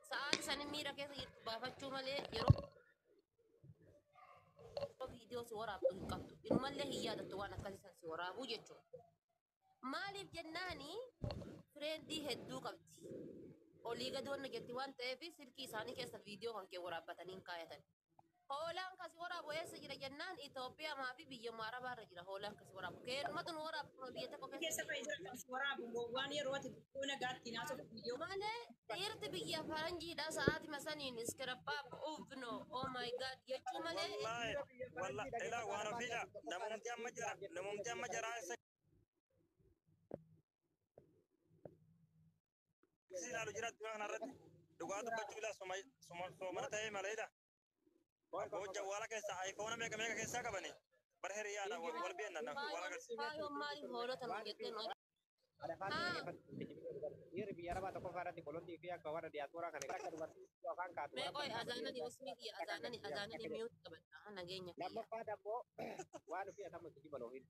Sa'aatii san miira keessa jirtu baafachuu malee yeroo viidiyoo si waraabdu hin qabdu. Inumallee hin yaadattu waan akkasii san si waraabuu jechuudha. Maaliif jennaani fireendii hedduu qabdi. Olii gadi wanna jetti waan ta'eef silkii isaanii keessa viidiyoo kan kee waraabbatanii hin kaayatan. Hoolaan kasi waraabu eessa jira jennaan Itoophiyaa maa fi biyyuma Arabaa irra jira hoolaan kasi waraabu. Keenumatu nu waraabbu kuma biyya tokko keessa. keessa fa'i jira kan si waraabu gowwaan yeroo ati Yoo nagaatti hin haasofne yoo Malee dhiirti biyya faranjiidha sa'aatima saniin iskirabbaa uuvno oh my god jechuu malee Wallahi, wallahi, ila wa rabbiila, namumti amma jara, namumti amma jara isa. Sisi ilaalu jira addunyaa kanarratti. Dhugaa dubbachuu ila suma, suma, soomana ta'ee maleedha. Hojja wala keessa iPhone meeqa meeqa keessaa qabani? Bara hiriyaadha wal wal beenna na wal agarsiisa. Faayoon maaliif hoolota nu jettee nu Dhiirri biyya arabaa tokkoffaa irratti qolotii fi akka warra diyaaspooraa kana akka dubartii iddoo afaan kaatu. Mee qoy azaanani usmii kiyya azaanani azaanani miyuut qabadha nageenya kiyya. Lammaffaa dammoo waan ofii atamu itti jiban ofiin.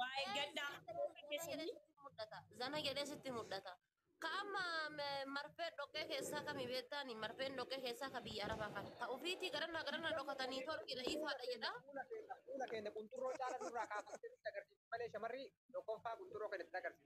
Waa Ee, eeggadhaa. sitti Yeroo mudhata, zana jedhee keessanii sitti mudhata. Zana jedhee sitti mudhata. Ka amma m- marfee dhoqqee keessaa kami beektaani? Marfeen dhoqqee keessaa ka biyya arabaa kana. Ta ofiitii garana garana dhokatanii torqidha ifaadha jedha. Fuula keenya qunxurroo caala nurraa kaafamtee nutti agarsiifti malee shamarri tokkoffaa qunxurroo keenya itti agarsiifti.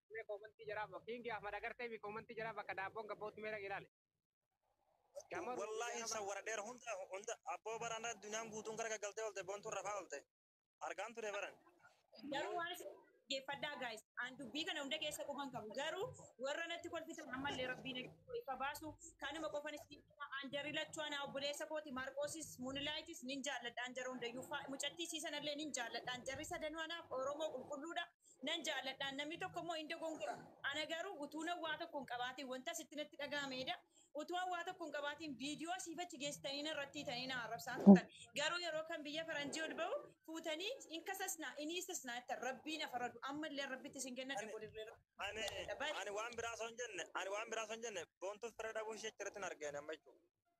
Mee koomantii jaraa bakka Kiingi Ahmad agartee fi koomantii jaraa bakka daabboon gabbootti mee dhaqi ilaali. Gamoo Wallaahi Ruutii san wara dheera hunda hunda abboo baraan irra addunyaan guutuun gara gaggaltee oolte boontuun rafaa oolte. Argaan ture baran. Garuu waan isin dhaggeeffadhaa guys. An dubbii kana hunda keessa quban qabu. Garuu warra natti kolfitan ammallee rabbiin akka ifa baasu kanuma qofan isin hima. An jarri lachuu anaa obboleessa kooti Maarqoosis Muunilaayitis nin jaalladhaan jara hundayyuu. Fa- Mucattii isii sanallee nin jaalladhaan. Jarri sadanuu anaaf Oromoo qulqulluudha. nan jaalladhaan namni tokko immoo hin dogongora ana garuu utuu nan waa tokko hin qabaatiin wanta sitti natti dhaga'ameedha utuu an waa tokko hin qabaatiin viidiyoo siif achi geessitanii na irratti hiitanii na arrabsaa turtan garuu yeroo kan biyya faranjii ol ba'u fuutanii in kasasnaa in hiisisnaa jettan rabbiin afaradu ammallee rabbitti isin kenna Ani- dabolirree ani ani waan biraa osoo hin jenne ani waan biraa osoo hin jenne boontuuf fira dhabuu ishee achirratti hin argeen amma jechuudha.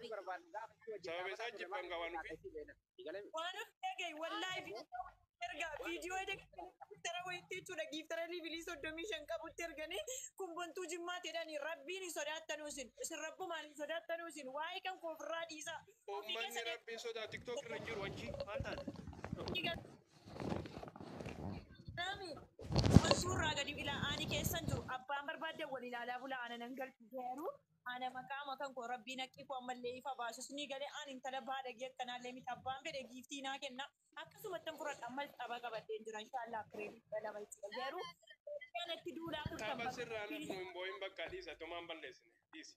Sababa isaa jibban qabaan Viidiyoo giftara wayiitti jechuudha. Giftara liivilii soddomii shan qabutti erganii kun bontuu jimmaa jedhanii rabbiin hin sodaattanuu isin. Isin rabbumaan hin sodaattanuu isin. Waa'ee kan koo ofirraa dhiisaa. Uummanni rabbiin sodaa tiktok irra hin jiru achi maal taate? Nami wal suurraa gadi ilaa ani keessan jiru abbaan barbaadde wal ilaalaa bulaa ana nan galchu garuu ana maqaa makan koo rabbiin haqqii koo ammallee ifa baasus ni galee ani intala baadagee akkanaallee miti abbaan fedhe giiftii naa kenna akkasumatti hin fudhadha ammas xaba qabadheen jira inshaallah kireedii kudha lama jechuudha garuu kanatti duulaa turtan Tapha bakka sirraa lafnu hin boo'in bakka dhiisa tumaan balleessine dhiisi.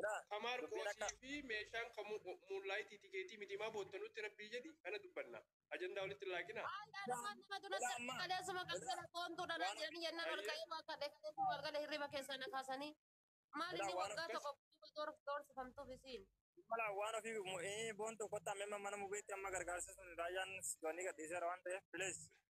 Ila Ka dubbiin Maarqoosii akka fi meeshaan kan muunlaayitii tikeetii miti maa boottanutti rabbii jedhi kana dubbanna. Ajandaa walitti hin laaqinaa. Maal ila dhalumaan nama dura ila sirbi amma kaleessuma ila galgala qoontuu dhalaan waan jedhanii jennaan ol ayyee ka'ee waa kadhe kaleessuma ol gala hirriba keessaa na kaasanii maal ila inni waan waggaa akkas tokko guutuu door- doorsifamtuuf isiin. mala waan ofii mo- ee, boontuu kottaa amma mana mubeetti amma gargaarsa sun raayyaan sidoonii gadhiiseera waan ta'eef please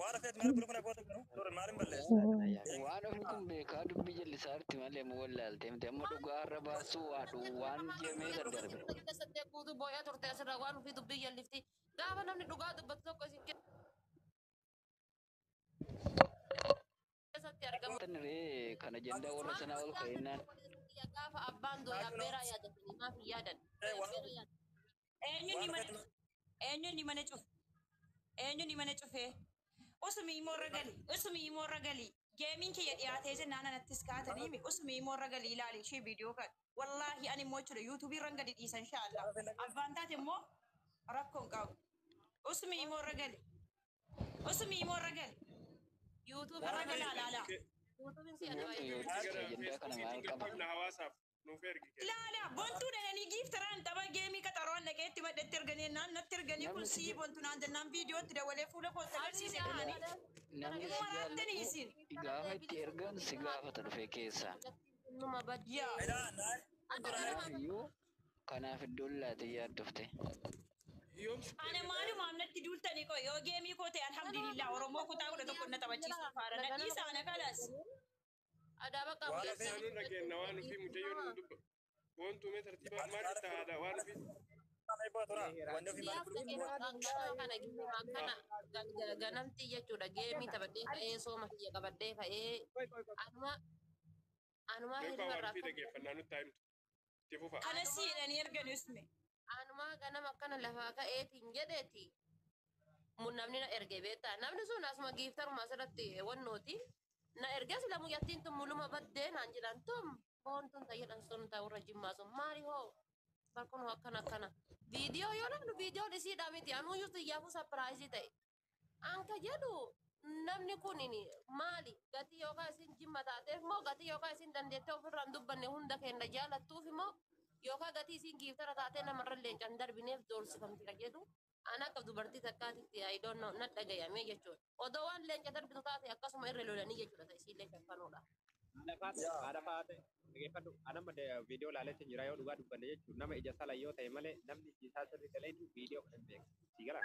Waan hafeet maal godhu kana goota garuu dura maal hin balleessu. Waan ofii kun beekaa dubbii jallisaa irti malee mu wallaalte miti amma dhugaa har'a baasuu waa dhu waan jemee Biyya daddarbe. dubbii waliin keessatti guutuu boo'aa turte asirraa waan ofii dubbii jallifti. Gaafa namni dhugaa dubbatu tokko isin keessatti argamu. Tan ree kan ajandaa warra Maal sanaa ol gootee ka'ennaan agarra warri sun biyya gaafa abbaan dooye abbeeraa yaadatanii maaf hin yaadan? Dooye abbeeraa yaadan. Eenyuun mana cufe? Eenyuun mana cufe? Eenyuun mana cufe? Usumi immoo irra gali. Usumi immoo irra gali. Geemiin kiyya dhiyaatee jennaan anattis kaatanii mi? Usumi immoo irra gali ilaali ishee viidiyoo kan. Wallaahi ani immoo jechuudha yuutuubii irran gadi dhiisa inshaallah. Abbaan taate immoo rakkoon qabu. Usumi immoo irra gali. Osu miimoo irra gali. Yuutuubii irra gali alaala. Yuutuubiin si adaba Yoo eeggatu. ta'e ajandaa kana maal qaba? hawaasaaf nuuf ergi. Ilaala bontuu dhananii giiftaraan tapha geemii qaxaroon dhaqeetti maddetti erganii naan natti erganii kun sii bontu naan jennaan viidiyootti dawalee fuula kootti agarsiise kaanii. Namni si jaallatu gaafa itti ergan si gaafata dhufee keessaan. Numa baddi. Yaa. Kanaaf iyyuu Kanaaf iddoon laatee yaaddofte. Ana maalumaaf natti duultanii qoy yoo geemii koo ta'e alhamdulillah oromoo kutaa kudha tokko na taphachiisuu faara na dhiisa ana kalas. Adaa bakka Waan Waan isaa nurra kenna waan ofii mucayyoo nu dubba. Wantu mee tartiibaa maal itti aadaa waan ofii. ganamti jechuudha geemii taphadhee ka'ee sooma kiyya qabadhee ka'ee anuma anuma Mee hirriba irraa ofii dhaggeeffannaa nutti haa himtu. Itti fufa. Kana si jedhanii ergan isme. Anumaa ganama akkana lafaa ka'eetiin jedheeti. Mun namni na erge beektaa. Namni sun asuma giiftaruma asirratti wannooti. Na erges lamu yattiin tun muluma baddee naan jedhan tum foon tun tayyadhan sun taa warra jimmaa sun maali hoo barkun hoo akkana akkana. Viidiyoo yoo namni viidiyoon isiidhaa miti anuu yuutu iyyaafuu sapiraayizii ta'e. Anka jedhu namni kun maali gatii yookaan isin jimma taateef moo gatii yookaan isin dandeettee ofirraan dubbanne hunda keenya jaalattuuf moo yookaan gatii isin giiftara taatee namarra leencaan darbineef doorsifamti ka jedhu an akka dubartii takkaatitti I don't know na dhagayame jechuudha. Odoo waan leenca darbitu taate akkasuma irra lolanii jechuudha ta isiillee shaffanuudha. Haadha faate haadha faate dhageeffadhu an amma viidiyoo laaletti jira yoo dhugaa dubbanne jechuun nama ija sala yoo ta'e malee namni iji isaa sirri galee jiru viidiyoo kan hin beeku sii gala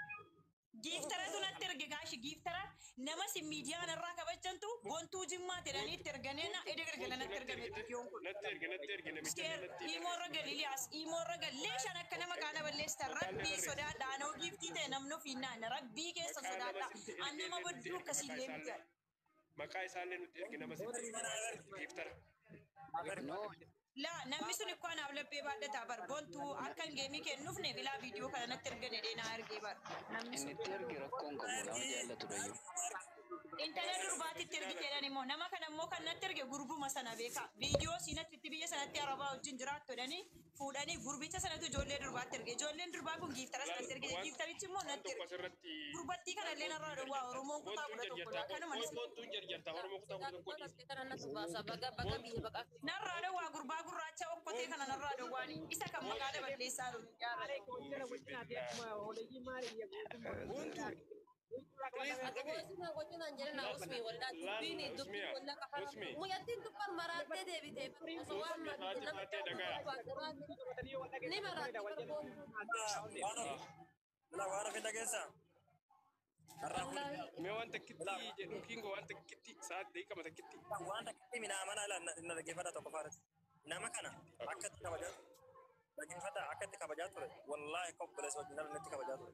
Giiftaratu natti erge gaashi giiftara nama sin miidiyaan irraa kabajjantu bontuu jimmaa jedhanii itti erganee na ede gargala natti ergame viidiyoon kun. Natti erge natti erge namicha Isteer natti erge. imoo irra gal Iliyaas imoo irra gal leeshaan akka nama kaana balleessitan rabbii sodaadha anoo giiftii ta'e namni ofiin naana rabbii keessa sodaadha an nama bodduu akkasiillee miti. maqaa isaallee nutti ergi nama sitti ergi waan sitti giiftara. No, La namni sun ikko anaaf laphee baadhata bar bontu akka hin geemii kee hin dhufne bilaa viidiyoo kana natti erga jedhee naa ergee bar namni inni sun itti erge rakkoo hin qabu nama jaallatudhayyuu. intala durbaatti itti ergi jedhan immoo nama kana immoo kan natti erge gurbuma sana beekaa viidiyoo siinatti itti biyya sanatti arabaa wajjin jiraattu jedhanii fuudhanii gurbicha sanatu ijoollee durbaatti erge. Ijoolleen durbaa kun giiftaras Laal, natti ergite, waan- giiftarichi immoo waan natti tokko erge. asirratti Gurbattii kana illee narraa dhowwaa Oromoon kutaa kudha tokko dha. Kanuma ni Koottuun jarjartaa Oromoo kutaa kudha tokko dhiisi. narraa dhowwaa gurbaa gurraacha okkotee kana narraa dhowwaani. Isa kan maqaa daballeessaa dhume. Yaa Rabbi. Boontuu Mee waan takkitti jedhu kingo waan takkitti sa'aat beekama takkitti. Waan takkitti midhaa mana ala na dhaggeeffadha tokko faaras. Nama kana akka itti kabajaa dhaggeeffadha akka itti kabajaa ture. Wallaahi akka obboleessa wajjin ala natti kabajaa ture.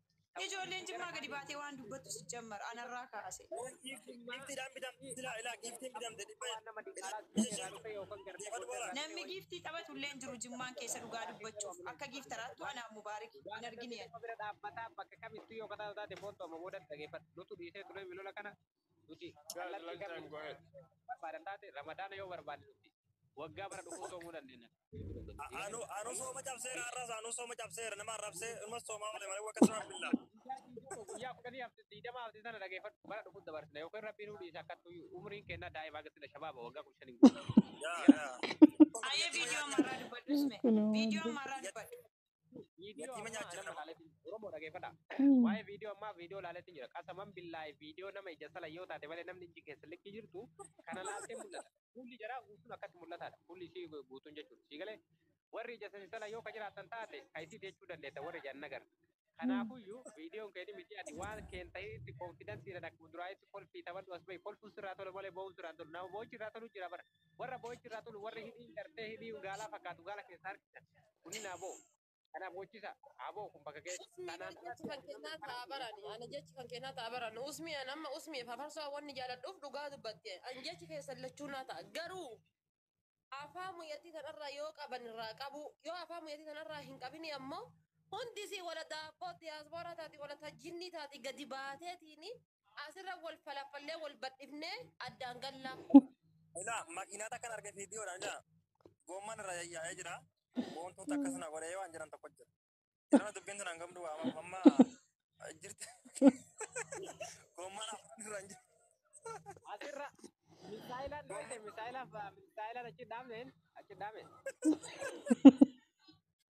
Ijoolleen jimmaa gadi baatee waan dubbattu si jammar anarraa kaase. Giiftiidhaan bitamte silaa ilaa giiftiin bitamte dhibba Namni giiftii taphatu illee hin jiru jimmaan keessa dhugaa dubbachuuf akka giiftaraattu anaa fi Mubaarik hin argine ani. Nama bira dhaabbataa bakka kamittuu yoo kataatu taate koottu amma boodatti dhageeffadhu. Nutu dhiisee turee milola kana nuti kallattii kamiin barbaadan taate ramadaana yoo barbaadne nuti waggaa bara dhufuu soomuu dandeenya. Anu anu sooma cabseera har'as anu sooma cabseera nama arrabsee ilmas soomaa oole malee wakka siraan billaa. Guyyaa kudhanii hafte digdama hafte sana dhageeffadhu bara dhufuu dabarsina yookiin rabbiin nu dhiisa akka umriin kennaa daa'ima akka sila shabaaba waggaa kudha shaniin guutuu. Yaa yaa. Aye video marah debat usme. Video marah debat. Viidiyoo Yatiima ammaa nyaachisa nama nama. laaleetiin jira. Oromoo dhageeffadha. Waa'ee viidiyoo ammaa viidiyoo laaleetiin jira. Qasaman billaahi viidiyoo nama ija sala yoo taate malee namni ijji keessa likki jirtu kana laaltee mul'ata. Fuulli jaraa guutuun akkatti mul'ataadha. Fuulli isii guutuun jechuudha. Sii galee warri ija sani sala yoo ka jiraattan taate ka isii jechuu dandeetta warri ija hin nagarre. Kanaafuyyuu viidiyoon keetii miti ati waan keen ta'eetti konfidansiidhaan akkuma duraanitti kolfii taphadhu as bahi kolfuun sirraa tola malee boo'uun sirraa hin tolu. Nama boo'ichi irraa tolu jira bara. Warra boo'ichi irraa tolu, warri hidhiin cartee hidhii gaalaa fakkaatu gaala keessaa harkisan, kunniin haa boo'u. Kan haa boochisaa, haa boo'u kun bakka ga'etti. Usmii Kanaan mee jechi kan kennaa ta'a barani ani jechi kan kennaa ta'a barani usmii an amma usmiif hafarsoo wanni jaaladhuuf dhugaa dubbatte an jechi keessan lachuu naa ta'a garuu afaa muyyattii tanarraa yoo qaban irraa qabuu yoo afaa muyyattii tanarraa hin qabinii ammoo hundisii wala daabboo diyaaspooraa taati wala tajjinnii taati gadi baateetiini Asirra wal falafallee wal badhifnee addaan gallaa. Ilaa makiinaa takkan arge viidiyoodhaan ilaa goomman irra yayyaa'ee jira. Boontuun takka sana godhee waan jiran tokko jira. Jirana dubbiin sun hangam du'a amma amma jirti. Goomman afaan irra hin jiru. Asirra misaayilaan dhaabne misaayilaan misaayilaan achi dhaabneen achi dhaabne.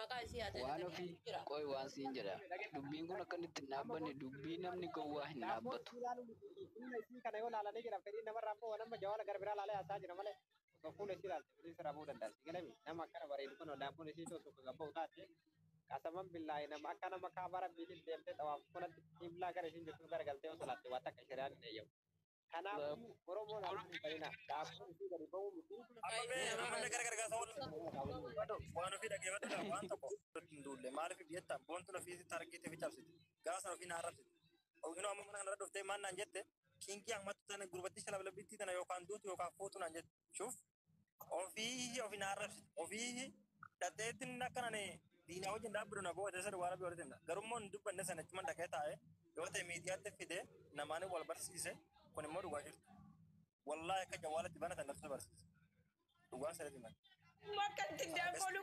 Maqaa isii haa Waan dagatanii ofii achi jira. qoy waan siin jedha. Dubbiin kun akka inni itti hin dhaabbanne dubbii namni gowwaa hin Naaffoon dhaabbatu. isii ilaaluu miti. Fuula isii kana yoo laalanii jiran fedhiin namarraa hin bahu. An amma Jawaala gara biraa laalee haasa'aa jira malee osoo fuula isii ilaalte fedhiin sirraa bahuu danda'a. Sii galee miti? Nama akkana bareedu kana naaffoon isiitu osoo kan gabba'u taate qasaman billaahi nama akka nama kaabaa rabbiitiif deemtee xawaaftu kanatti qiblaa gara isiin jirtuu gara galtee yoo salaatte waa takka shari'aan hin eeyyamu. Kanaafuu Oromoon as hin ta'ina. Dhaabbiin isii gadi ba'uu miti. Amma mee yeroo namni gara gargaarsa wal waan ofii dhaggeeffadhu dha waan tokko irratti hin duulle maaliif jetta boontuun ofii sitti argite fi cabsite gaafa sana ofii na arrabsite oginoo amma mana kana irra dhuftee maal naan jette kiingii ahmattu tana gurbattii shalablabbittii tana yookaan duutu yookaan fuutu naan jette shuuf Ofii ofi na arrabsi. Ofii dhateettiin akka nani diinaa wajjin dhaabbiru na goote isa duwwaa rabbi walitti himna. Garummoo hin dubbanne sana achuman dhaqee taa'e yoo ta'e miidiyaatti fide namaan wal barsiise kun immoo dhugaa jirtu. Wallaahi akka jawwaalatti banatan natu barsiise. Dhugaa sirriitti hima. Bakka itti dabbalu.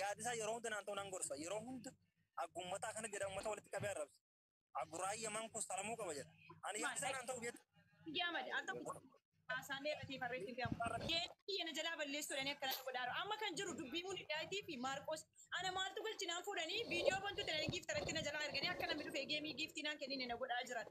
yaadisaa yeroo hunda naan ta'u nan gorsa yeroo hunda aggummataa akkana jedha ummata walitti qabee arrabsa agguraa yaman kun salamuu qaba jedha ani yaadisaa naan ta'u beektu Jaamad akka haasaamee irratti barreessin gamu. Deebii yana jalaa balleessuudhaan akkana godhaaru. Amma kan jiru dubbii Muunidaayitii fi Maarqoos. Ana maaltu galchinaan fuudhanii viidiyoo bantu ta'anii giiftaratti na jalaa erganii akka namni dhufee geemii giiftii naan kennine na godhaa jiran.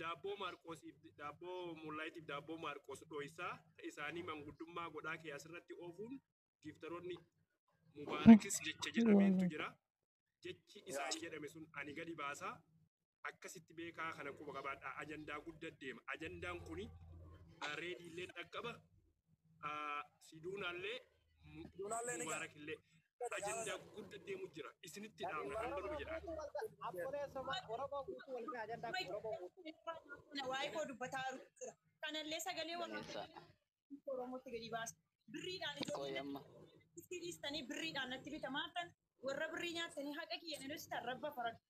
daabboo maarqoosiif daabboo mullaayitiif daabboo maarqoos dhoysaa isaanii manguddummaa godhaa kee asirratti oofuun giiftaroonni mubaarakis jecha jedhameentu jira jechi isaan jedhame sun ani gadi baasaa akkasitti beekaa kana quba qabaadha ajandaa guddaa deema ajandaan kuni reediillee dhaqqaba ah, siduunaallee mu- Siduunaallee ni mubaarakillee ajandaa gudda deemu jira isinitti dhaabna kan godhu jedha Abbolee somaa Oromoo guutuu wal gahaa ajandaa kun Oromoo guutuu. Waa'ee koo dubbataa jira. Kanallee sagalee Balleessaa. waraabaa Oromootti gadi baasa. Birriidhaan Qoy ijoolleen amma. itti dhiistanii birriidhaan natti bitamaa tan warra birrii nyaatanii haqa kiyyan irratti tan rabba faradha.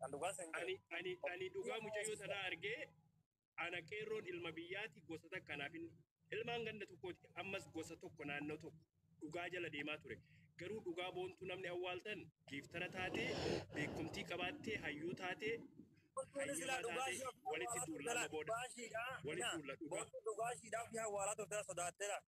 Kan dhugaa san ani ani ani dhugaa mucayyoo tanaa argee ana qeerroon ilma biyyaati gosa takka naaf hin ilmaan ganda tokkooti ammas gosa tokko naannoo tokko dhugaa jala deemaa ture garuu dhugaa boontuu namni awwaaltan giiftara taatee beekumtii qabaattee hayyuu taatee Wantoonni silaa hayyama dhugaa taatee ishee ofii walitti awwaalaa duulla turte amma laata? booda Dhugaa ishiidhaa? walitti duulla dhugaa Wantoonni dhugaa ishiidhaa ofii awwaalaa turte laata? Sodaattee laata?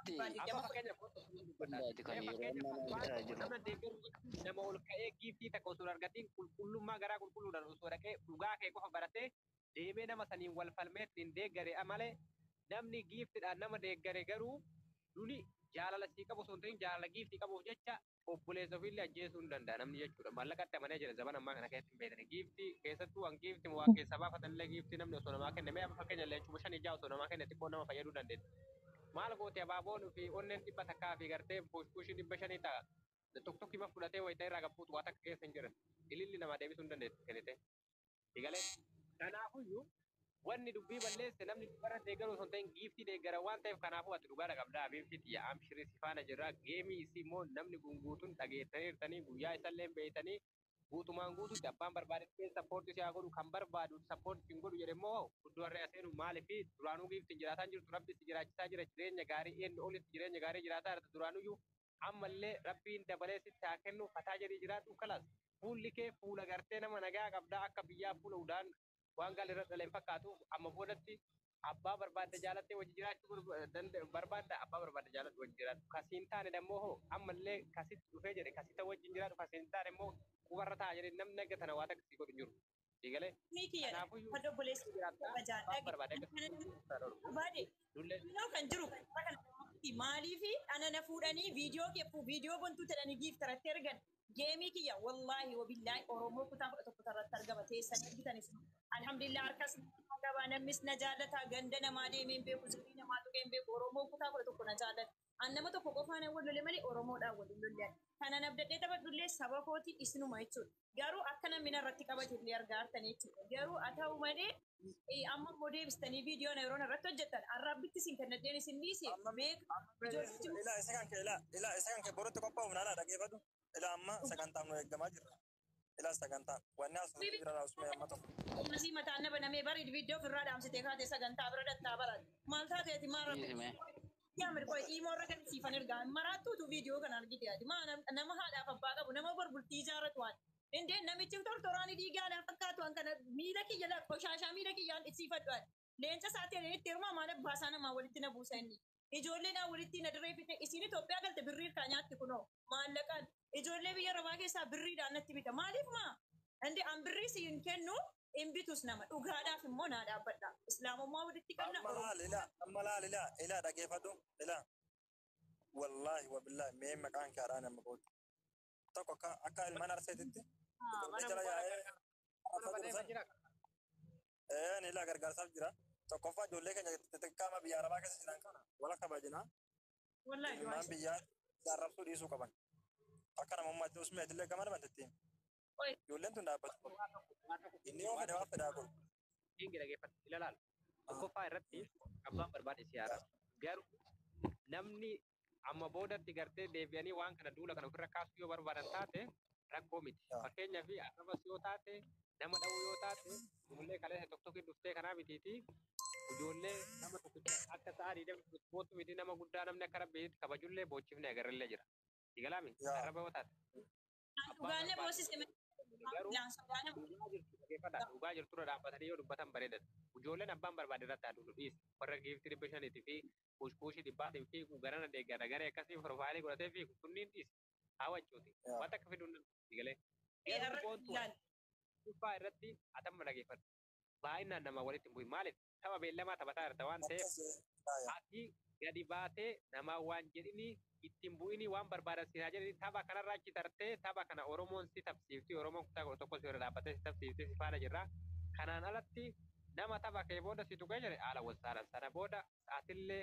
Amma fakkeenyaaf hundaati kan yeroon nama bitaa jiru. Nama deeggaru jechuun nama ol ka'ee giiftii takka osoo hin argatiin qulqullummaa garaa qulqulluudhaan osoo dhaqee dhugaa kee qofa baratee deemee nama saniin wal falmee ittiin deeggare malee namni giiftidhaan nama deeggare garuu duni jaalala sii qabu osoo hin ta'in jaalala giiftii qabuuf jecha obboleessa ofiillee ajjeesuu hin danda'a namni jechuudha. Maallaqatti amanee jira zaban ammaa kana keessatti hin beekne. Giiftii keessattuu waan giifti waa keessaa baafatan illee giiftii namni osoo namaa kenne mee amma fakkeenya illee kuma shan ijaa osoo namaa kenne xiqqoo nama fayyaduu dandeetti. Maal gooti abaaboon fi onneen dhibba takkaa fi gartee buushbuushii dhibba shanii ta'a. Tokkokkii ma fudhatee wayita irraa gabbuutu waa takka keessa hin jiran. Ililli namaa deebisuu hin dandeetti kennitee. Egalee kanaafuyyuu wanni dubbii balleesse namni dhugaarra deeggaruu osoo hin ta'in giiftii deeggara waan ta'eef kanaafuu ati dhugaadha qabdaa abiibti tiyya amshirii si faana jirra geemii isii immoo namni gunguutuun dhageettaniirtanii guyyaa isallee hin beeytanii guutumaan guutuutti abbaan barbaadetti keen sappoortii si haa godhu kan barbaadu sappoortii hin godhu jedhe immoo guddoo harree aseenuu maaliif duraanuu giiftiin jiraataan jirtu rabbi si jiraachisaa jira jireenya gaarii eenyu olitti jireenya gaarii jiraataa jirta duraanuyyuu Ammallee rabbiin dabalee sitti haa kennu fataa jedhii jiraadhu kalaas fuulli kee fuula gartee nama nagaa qabda akka biyyaa fuula udaan waan gaalli irra dhale hin fakkaatu amma boodatti abbaa barbaadde jaalattee wajji jiraachuu barbaadda abbaa barbaadde jaaladhu wajji jiraadhu ka siin taane dammoo hoo ammallee ka sitti dhufee jedhe ka sita wajjin jiraadhu ka siin taane immoo qubarra taa'a jedhe namni naga tana waa takka sii godhu hin jiru. Digalee. Mii kiyya Kanaafuyyuu kan obboleessi kiyya jiraattaa kabajaa abbaan dhage barbaade akka kana sitti irraa dhorgu barbaade dullee kunoo kan jiru kan irra kana irratti maaliif ana na fuudhanii viidiyoo kee fuu viidiyoo bontuu jedhanii giiftaratti ergan geemii kiyya wallaahi wabillaahi oromoo kutaa kudha tokko irratti argama teessan ergitanis alhamdulillah harkas na qabaa namnis na jaallataa ganda namaa deemee hin beeku zirii namaa tuqee hin beeku oromoo kutaa kudha tokko na jaallata An nama tokko qofaanan wal lole malee Oromoodhaan wal hin lolle ani. Kanan abdadhee taphadhullee saba kooti isinuma jechuudha. Garuu akka namni narratti kabajuullee argaa jirtan jechuudha. Garuu haa ta'u malee amma immoo deebistanii viidiyoo na yeroo narratti hojjettan arraabbitti isin kennadheen isin dhiise beeka ijoollee jiru. Ilaa isa kan kee ilaa ilaa isa kan kee borutti qophaa'uuf naalaa dhageeffadhu. Ilaa amma sagantaaf nu eeggamaa jirra. Silaas sagantaa. Wanni as Bibi. jira laasumee amma tokko. Ammasii mataan na banamee bareed viidiyoo ofirraa dhaamsitee kaatee sagantaa bira dhaqxaa baran. Maal taateeti maa rabbi. Dhiisime. Yaa mirgoo imoo irra kan siifan ergaa maraattuutu viidiyoo kana argite ati maa nam- nama haadhaaf abbaa qabu nama bor bultii ijaarratu waan. Indee namichi tortoraani dhiigaa alaa fakkaatu waan kana miila kiyya laa qoshaashaa miila kiyyaan dhiisiifadhu ati. Leenca isaa ta'een initti herumaa maal abbaa isaa namaa walitti na buusa inni. Ijoollee naa walittii na dirree fixee isiin Itoophiyaa galte birrii irkaa nyaatti kunoo. Maallaqaan. Ijoollee biyya arabaa keessaa birriidhaan natti bita. Maaliif maa? Inde an birrii si hin kennu hin bitus nama. Dhugaadhaaf immoo naa dhaabbadha. Islaamummaa walitti qabna Amma laal ila Oromummaa. amma laal ila ila dhageefadhu ila wallaahi wabillaahi mee maqaan kee haadhaan amma booda tokko akka akka ilmaan arseetitti Haa, ijoollee mana jala mubarak yaa'ee akka. Mana arsaa jiru badeema san jira. Ee ni laa gargaarsaaf jira. Tokkoffaa ijoollee keenya xixiqqaa amma biyya arabaa keessa jiran kana wal akka baajinaa Wallahi du'aa ilmaan biyyaa arrabsuu dhiisuu qaban. Akka namummaatti usmee itillee gama nama ittiin. Oi. Ijoolleen tun dhaabbatu. Inni yoo fedhe waan fedhaa godhu. Inni dhaggeeffatu ilaalaal. Tokkoffaa irratti abbaan barbaade si haara. Garuu namni Amma boodatti gartee deebi'anii waan kana duula kana ofirra kaasuu yoo barbaadan taate rakkoo miti. Yaa. Fakkeenyaaf arrabas yoo taate nama dha'uu yoo taate ijoollee kaleessa tokko tokko dhuftee kanaa mitiiti. Ijoollee nama tokkicha akka sa'a diidama bootu miti nama guddaa namni akka rabbiitti kabajullee boochifnee agarrellee jira. Sigalaami Yaa. arraba yoo taate. Dhugaan na boosise dhugaa jirtu dhaggeeffadha dhugaa jirturra dhaabbatanii yoo dubbatan bareedadha. Ijoolleen abbaan barbaade irratti haa duulu dhiisi. Warra giiftii dhibba shaniitii fi kuushkuushii dhibbaatiin fiigu garana deeggara garee akkasii piroofaayilii godhatee fiigu kunniin dhiisi. Haa waccuuti. Waan takka fiduun nama dhiisi galee. Garuu boontuu dhibbaa irratti atamma dhaggeeffadha. Baay'inaan namaa walitti hin bu'in maaliif? tapha beellamaa taphataa jirta waan ta'eef ati gadi baatee namaa waan jedhini ittiin bu'ini waan barbaadan siin haa jedhani tapha kanarraa achi tartee tapha kana Oromoon si tapsiifti Oromoon kutaa kudha tokko si bira dhaabbatee si tapsiifti si faana jirra kanaan alatti nama tapha kee booda si tuqee jedhe haala walsaalan sana booda atillee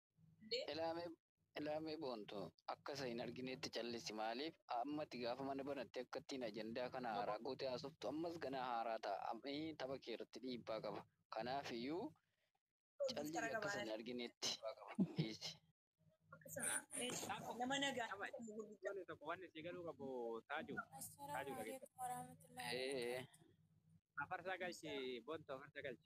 Elaamee Elaamee boontu akka isa hin argineetti callissi maaliif ammati gaafa mana banatte akkattiin ajandaa kana haaraa goote haasoftu ammas ganaa haaraa ta'a ii tapha kee irratti dhiibbaa qaba kanaaf iyyuu cal jedhi akka isa hin argineetti dhiisi. Nama nagaa qabaadha. Wanni tokko wanni si galuu qabu taaju taaju Assalamu dhageessa. alaikum warahmatullahi Ee wabarakatuh. Afarsaa galchi boontu afarsaa galchi.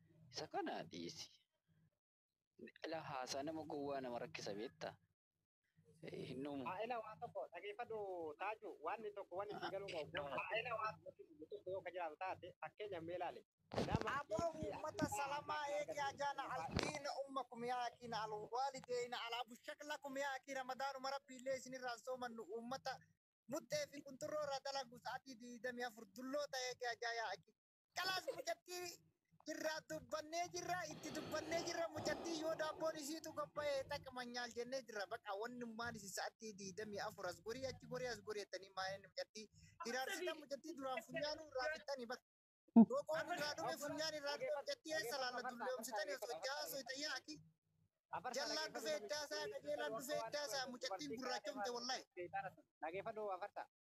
Isa kana dhiisi. Ila haasaa nama gowwaa nama rakkisa beekta. Hin dhumu. Faa'ila waan tokko dhageeffadhu taaju waan tokko waan itti galuu qabu. Faa'ila waan tokko yoo ka jiraatu taate fakkeenyaaf mee ilaali. Nama Aboo ummata salamaa eegi ajaana aldiina ummakum yaa akiina alwaalideeyna alaa bushaklakum yaa akii ramadaanuma rabbiillee isinirraa hin soomannu ummata muxxee fi qunxurroo irraa dalagu sa'atii 24 dulloota eegi ajaa yaa akii Kalaas mucattii jirraa dubbannee jirra itti dubbannee jirra mucattii yoo daabboon isiitu qophaa'e xaqman nyaal jennee jirra baqa wannummaan isin sa'attii diidamii afur as gorii achi gorii as gorii jettanii maa'een mucattii hiraarsitan mucattii duraan funyaanuu irraa fixxanii baqa. Roqoo irraa dhume funyaan irraa dhume mucattii eessa laalla dulloomsitanii osoo jahaa soytayyaa akii. Jallaan dhufee iddaasaa qajeelaan dhufee iddaasaa mucattiin gurraachomte wallahi. Dhageeffadhu afarta.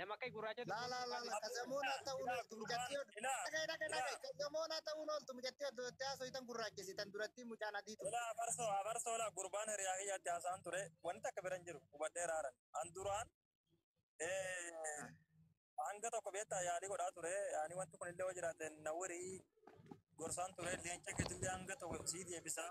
Nama akka gurraacha La la la la kazamoona ta'uun ooltu mucattii oduu. Dhagaye dhagaye dhagaye kazamoona ta'uun ooltu mucattii oduu itti haasoftan gurraachesitan duratti mucaan adii ture. Ilaa abarsoo abarsoo laa gurbaan hiriyaa kiyyaatti haasaan ture wanti takka biran jiru hubadhee raaran an duraan hanga tokko beektaa yaalii godhaa ture ani wanti kun illee hojiraate na warii gorsaan ture leenca keetillee hanga tokko sii deebisaa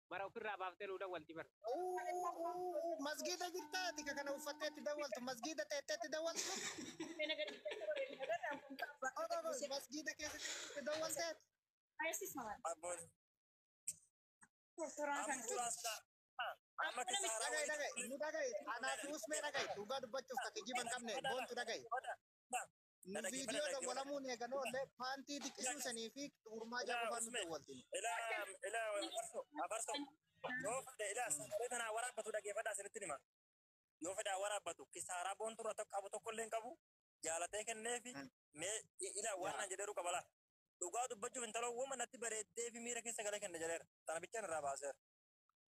bara ofirraa baaftee nuu dawwalti bara. Masgiida jirtaati ka kana uffattee itti dawwaltu masgiida teettee itti dawwaltu masgiida keessatti itti dawwaltee amma kisaara dhaga'i dhaga'i nu dhaga'i anaa fi usmee dhaga'i dhugaa dubbachuuf ka kijiba hin qabne boontu dhaga'i Na Nu dhaggeeffadha, viidiyoo dhaggeeffadha. dawwalamuun eegan oolle paantii xiqqisuu sanii fi gurmaa Ilaa jaabufaan nu Usme, dawwaltiin. ilaa ilaa abarso abarso yoo fedhe ilaa sagalee tanaa waraabbatu dhaggeeffadhaa isinitti hima. Yoo fedhaa waraabbatu kisaaraa boontuu irra tokko qabu tokko illee hin qabu jaalatee kenneefi Mm. mee i- ilaa waan Yaa. naan jedheeru qabalaa. Dhugaa dubbachuuf intaloo woma natti bareeddee fi miira keessa galee kenne jedheera. Tana bichaan irraa baaseera.